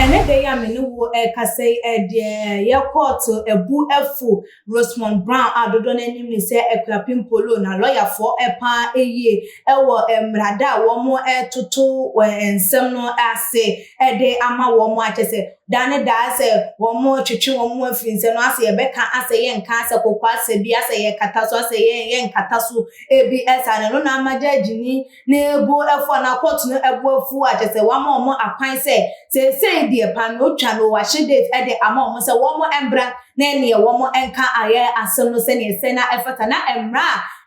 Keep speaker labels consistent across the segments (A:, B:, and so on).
A: Ɛnnɛ da yi a me ne wo rekasa yi, eh, deɛ yɛkɔɔto abu afu Rosemond Brown a dodoɔ no anim ne sɛ Akuapem Polo na lɔyafoɔ paa yie wɔ mmerada a wɔtoto nsɛm no ase de ama wɔn a kyɛ sɛ Da ne da asɛ wɔn mo twetwe wɔn mo afiri nsɛ no asɛ yɛbɛka asɛ yɛ nka asɛ koko asɛ bi asɛ yɛ kata so asɛ yɛ yɛ nkata so ebi ɛsa ne no na ama gyɛɛgyi ni ne bo afu anaa kɔɔto no ɛbo afu a kyɛsɛ wama wɔn mo akwan sɛ seesei deɛ paa no otwa no wahye date ɛde ama wɔn mo sɛ wɔn mo ɛmbra na ɛneɛ wɔn mo ɛnka ayɛ asɛm no sɛneɛ ɛsɛ na ɛfata na ɛmra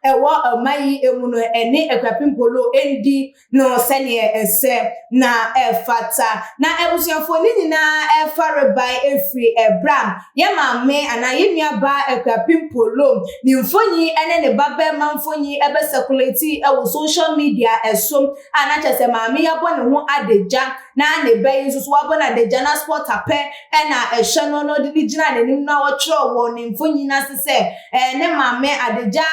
A: a ɛwɔ ɔma yi ɛmu no ɛne akuapem polo ɛndi no sɛdeɛ ɛsɛ na ɛfata. Na abusuafoɔ no nyinaa fa rebae ɛfiri ɛberɛ a yɛn maame anaa yɛn nua baa Akuapem Polo ne mfoni ne ne ba barima mfoni bɛ circulate wɔ social media so a na kyerɛ sɛ maame yi abɔ ne ho adagya na ne ba yi nso so wabɔ no adagya na supporter pɛ na ɛhyɛ no na ɔde ne gyina n'anim na ɔtwerɛ wɔ ne mfoni no ase sɛ ne maame adagya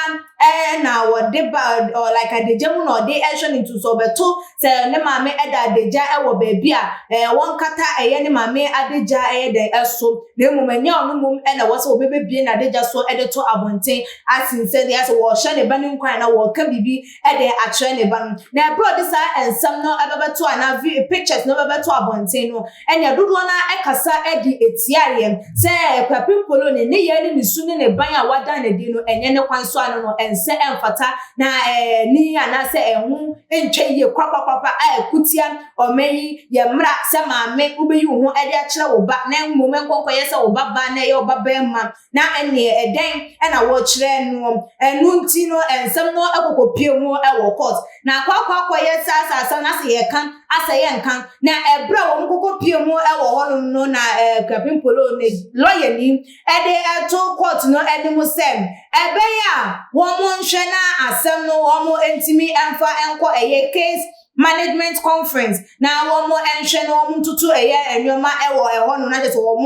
A: na ɔde ba ɔ like adagya mu na ɔde hwɛ no nti so ɔbɛto sɛ ne maame da adagya wɔ baabi a ɛɛ wɔnkata ɛyɛ ne maame adagya ɛyɛ dɛ ɛso na mmom ɛnyɛ ɔno mmom na ɛwɔ sɛ wɔbɛbɛbie n'adagya so de to abɔnten asen sɛ deɛ sɛ wɔhyɛ ne ba no nkwan na wɔka biribi de akyerɛ ne ba no na ɛberɛ ɔde saa nsɛm no ɛbɛbɛto anaa vi pictures no ɛbɛbɛto abɔnten no Ɛnna dodoɔ no ara kasa de tiaa yɛn sɛ Kwapim Polo ne nneyɛɛ ne ne su ne ne ban a wadan no adi no nyɛ ne kwan so ano no ɛnsɛ ɛmfata na ɛnni anaasɛ ɛho ntwa yie kwakwakwa a ɛko tia ɔman yi yɛ mmara sɛ maame wobɛyi wo ho de akyerɛ wo ba na mmom ɛnkɔ nkɔyɛ sɛ wo ba baa na ɛyɛ wo ba barima Na ɛnneɛ ɛdɛn na wɔkyerɛ noɔ? Ɛno nti no nsɛm no kɔkɔpue mu wɔ court, na akɔakɔ akɔyɛ saa saa saa, na sɛ yɛka asɛ yɛnka, na ɛberɛ a wɔn kɔkɔpue mu wɔ hɔnom no na Kwabin Polow ne lɔyani de to court no anim sɛ ɛbɛyɛ a wɔnhwɛ na asɛm no wɔntumi mfa nkɔ ɛyɛ case Management conference na wɔn nhwɛ na wɔn ntutu ɛyɛ nneɛma ɛwɔ ɛhɔ no na kyɛ sɛ wɔn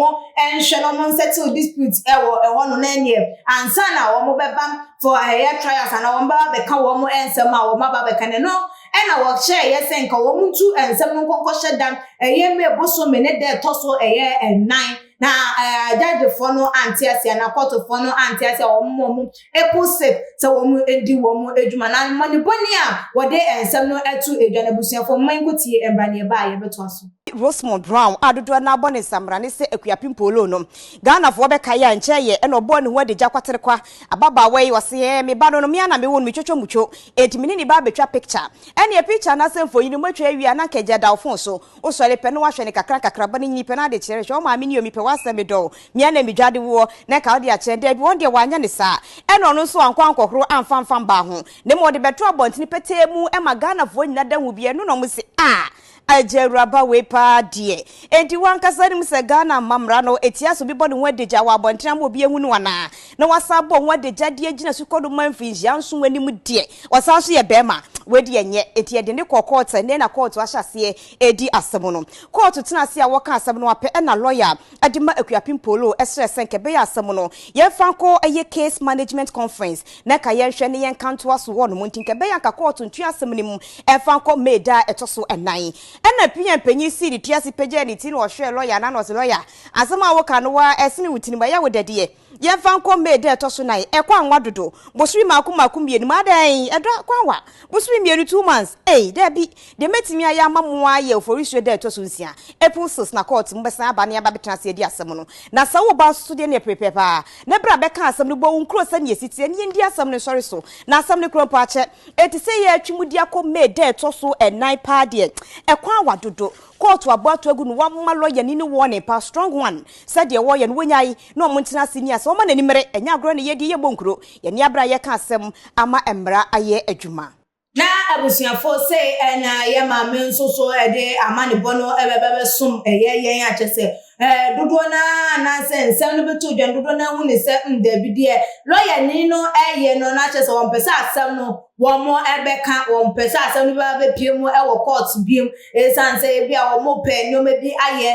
A: nhwɛ na wɔn nsettle dispute ɛwɔ ɛhɔ no na ɛneɛ ansa na wɔn bɛba for ɛyɛ trials anaa wɔn bɛba bɛka wɔn nsɛm a wɔn aba bɛka no ɛno ɛna wɔhyɛ ɛyɛ sɛ nka wɔn ntu nsɛm no nkɔnkɔ hyɛ da ɛyɛ may bosome ne da ɛtɔ so ɛyɛ ɛnan na ɛɛ judge foɔ no ante aseɛ anaa court foɔ no ante aseɛ a wɔn wɔn April six, sɛ wɔadi wɔn adwuma no ammɔnebɔne a wɔde nsɛm no to dwa no abusuafo mma yɛnkɔ tie ɛmmra ne ɛba a yɛbɛtoa so. Rosemond Brown a
B: dodoɔ no ara bɔ ne nsamena ne sɛ Akuapem Polo no, Ghanafoɔ bɛkae a nkyɛ yɛ na ɔbɔɔ ne ho adagya kwaterekwa ababaawa yi, ɔse ɛɛ me ba no no me ara na mewo no, metwotwo mutwo, enti me ne ne ba abɛtwa picture. Ɛneɛ picture anaasɛ mfonin no moatwa awie a na anka agya da wo phone so. Wo sɔre pɛ na wahwɛ no kakra kakra ba no nyini pɛ na ade kyerɛ hwɛ wo maame ni o mepɛ w'asɛm medɔ wo mea na medwa de woɔ na ɛka wode akyɛ daabi wɔn deɛ wanyɛ no saa ɛna ɔno nso wankɔ ankɔhoro amfa mfa mmaa ho na mmom ɔde bɛtoo abɔntene petee mu ɛma Ghanafoɔ nyina da hu bi ɛno na ɔmo se ah Agya Awuraba wei paa deɛ enti wo ankasa nim sɛ Ghana mma mmara no ɛtia sɛ obi bɔ ne ho adagya wɔ abɔntene ama obi ahu no anaa na wasan abɔ ho adagya de agyina sukɔ do ma mfinhyia nson anim deɛ, ɔsan nso yɛ barima a, wei deɛ nyɛ. Enti yɛde no kɔɔ kɔɔto. Ɛnnɛ na kɔɔto ahyɛ aseɛ redi asɛm no. Kɔɔto tenaa ase a wɔkaa asɛm no apɛ na lɔya a de ma Akuapem Polo srɛɛ sɛ nka ɛbɛyɛ a asɛm no yɛmfa nkɔ ɛyɛ Case Management Conference na nka yɛnhwɛ na yɛnka ntoa so hɔnom nti nka ɛbɛyɛ a nka kɔɔto ntwe asɛm no mu mfa nkɔ May da a ɛtɔ so nnan. Ɛnna PM panyin sii ne ti ase pagyaa ne ti na ɔhwɛɛ lɔya no na ɔse, Lɔya, Asɛm a woka no waa ɛsene wo tirim, ɛyɛ wo dɛ deɛ. Yɛmfa nkɔ May da a ɛtɔ so nan, ɛkɔ anwa dodo, bosome mmaako mmaako mmienu mu, adɛn, ɛdɔ akɔ anwa, bosome mmienu, two months, ei, daabi, deɛ mɛtumi ayɛ ama mo ara yɛ Oforisuo da a ɛtɔ so nsia, April six, na kɔɔte mobɛsan aba ne abɛtena ase adi asɛm no, na sɛ woreba nso so deɛ ɛneɛ prepare paa, na bra bɛka asɛm no, bɔ wo nkuro sɛdeɛ ɛsi teɛ, na yɛndi asɛm no nsɔre so, na asɛm no korɔ mpo akyɛ. Enti sɛ yɛretwe mudi akɔ May da a ɛtɔ so nan paa deɛ, ɛkɔ anwa dodo, Kɔɔto abɔ ato agu no wama lɔyani no warning paa strong one sɛ deɛ wɔyɛ no wɔnyae na wɔn ntena ase nni asɛm wɔma n'ani mmere ɛnyɛ agorɔ na yɛdi yɛbɔ nkuro yɛn ani abere a yɛka asɛm ama mmara ayɛ adwuma. Na abusuafo
A: sei na yɛ maame nso so de amanebɔ no bɛba bɛsom yɛ yɛn a kyerɛ sɛ Ɛɛ, dodoɔ no ara anaasɛ nsɛm no bɛtoo dwa no, dodoɔ no ara hu no sɛ mm, daabi, deɛ lɔyani no reyɛ no no akyerɛ sɛ wɔmpɛ sɛ asɛm no wɔbɛka, wɔmpɛ sɛ asɛm no bɛba bɛpue mu wɔ court biom, ɛsiane sɛ ebi a wɔpɛ nneɛma bi ayɛ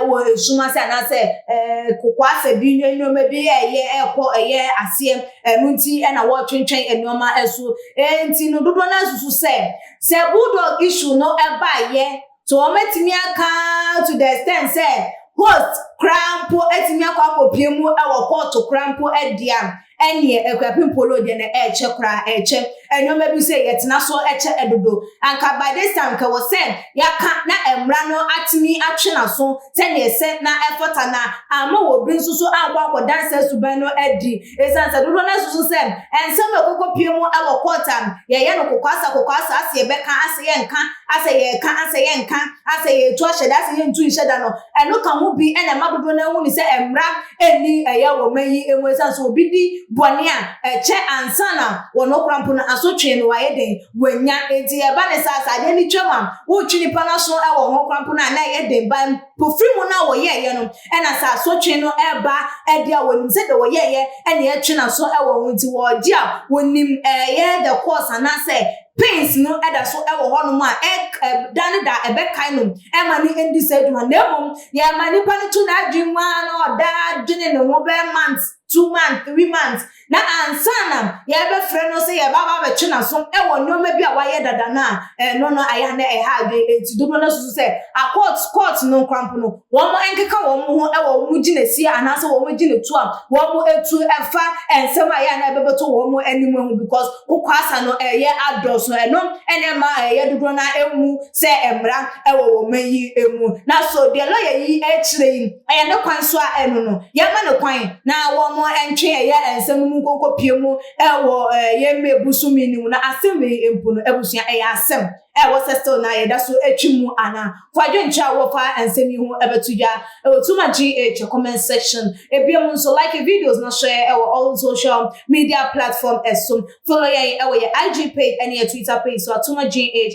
A: wɔ esum ase anaasɛ ɛɛ kokoasɛ bi ne nneɛma bi ɛyɛ ɛkɔ ɛyɛ aseɛ, ɛno nti na wɔretwentwɛn nneɛma so. Ɛnti no dodoɔ no ara susu sɛ sɛ bulldog issue no baeɛ So wɔatumi aka to the extent sɛ host koraa mpo atumi akɔ akɔpue mu wɔ kɔɔto koraa mpo de a, ɛnneɛ Akuapem Polo deɛ na ɛrekyɛ koraa, ɛrekyɛ. Nneɛma bi sɛ yɛtena so kyɛ dodo. Anka by this time anka ɛwɔ sɛ yɛaka na mmara no atumi atwe n'aso sɛnea ɛsɛ na ɛfata na amma obi nso so ankɔ akɔda saa suban no adi. Esiane sɛ dodoɔ no ara susu sɛ nsɛm a ɛkɔkɔpue mu wɔ kɔɔt a yɛyɛ no kokoasa kokoasa asɛ yɛbɛka asɛ yɛnka, asɛ yɛreka asɛ yɛnka, asɛ yɛretu ahyɛ da asɛ yɛntu nhyɛ da no, ɛno ka ho bi na ɛma dodoɔ no ara hunu sɛ mmara nni ɛyɛ wɔ ɔman yi mu. Esiane sɛ obi di bɔne a, ɛkyɛ ansa na wɔn korampo no asotwee no ayɛ dɛn? Wanya enti ɛba ne saa sɛ adeɛ no twam a wotwe nipa no aso wɔ ho kwan pono a na ɛyɛ den ba mpofiri mu no a wɔyɛɛyɛ no ɛna sɛ asotwe no ɛba ɛde a wɔnim sɛ deɛ wɔyɛɛyɛ ɛna ɛtwe n'aso wɔ ho nti wɔgye a wɔnim ɛyɛ the course anaasɛ pains no ɛda so ɛwɔ hɔ nom a ɛda ne da ɛbɛkae no ɛma ne ɛndi saa adwuma na mmom deɛ ɛma nipa no tu n'adwene mu a na ɔda adwene ne ho bɛɛ months two months three months na ansa na yɛbɛfrɛ no sɛ yɛba ba bɛtwe n'aso wɔ nneɛma bi a wayɛ dada no a ɛno no ayɛ na ɛha adwene enti dodoɔ no susu sɛ akɔɔt kɔɔt no nkrampo no wɔn nkeka wɔn ho wɔ wɔn gyinasie anaasɛ wɔn gyinatu a wɔn atu ɛfa nsɛm a ɛyɛ na ɛbɛbɛto wɔn anim ho because kokwaasa no ɛyɛ adɔso ɛno ɛna ɛma ɛyɛ dodoɔ no emu sɛ mmara wɔ wɔn yi emu na so deɛ lɔya yi kyerɛ yi Ɛyɛ ne kwan so a ɛno no, yɛmma no kwan na wɔntwe ɛyɛ nsɛm no mu nkonkopie mu wɔ yɛn mmɛ bosom yi no mu. Na asɛm wei mpo no, abusua, ɛyɛ asɛm a ɛwɔ sɛ still na yɛda so twe mu anaa? Fa adwenkyerɛ a wowɔ fa nsɛm yi ho bɛto dwa wɔ Tuma GH comment section. Ebiem nso, like videos na share wɔ all social media platform so. Follow yɛn wɔ yɛn IG page ne yɛn Twitter page so at Tuma GH.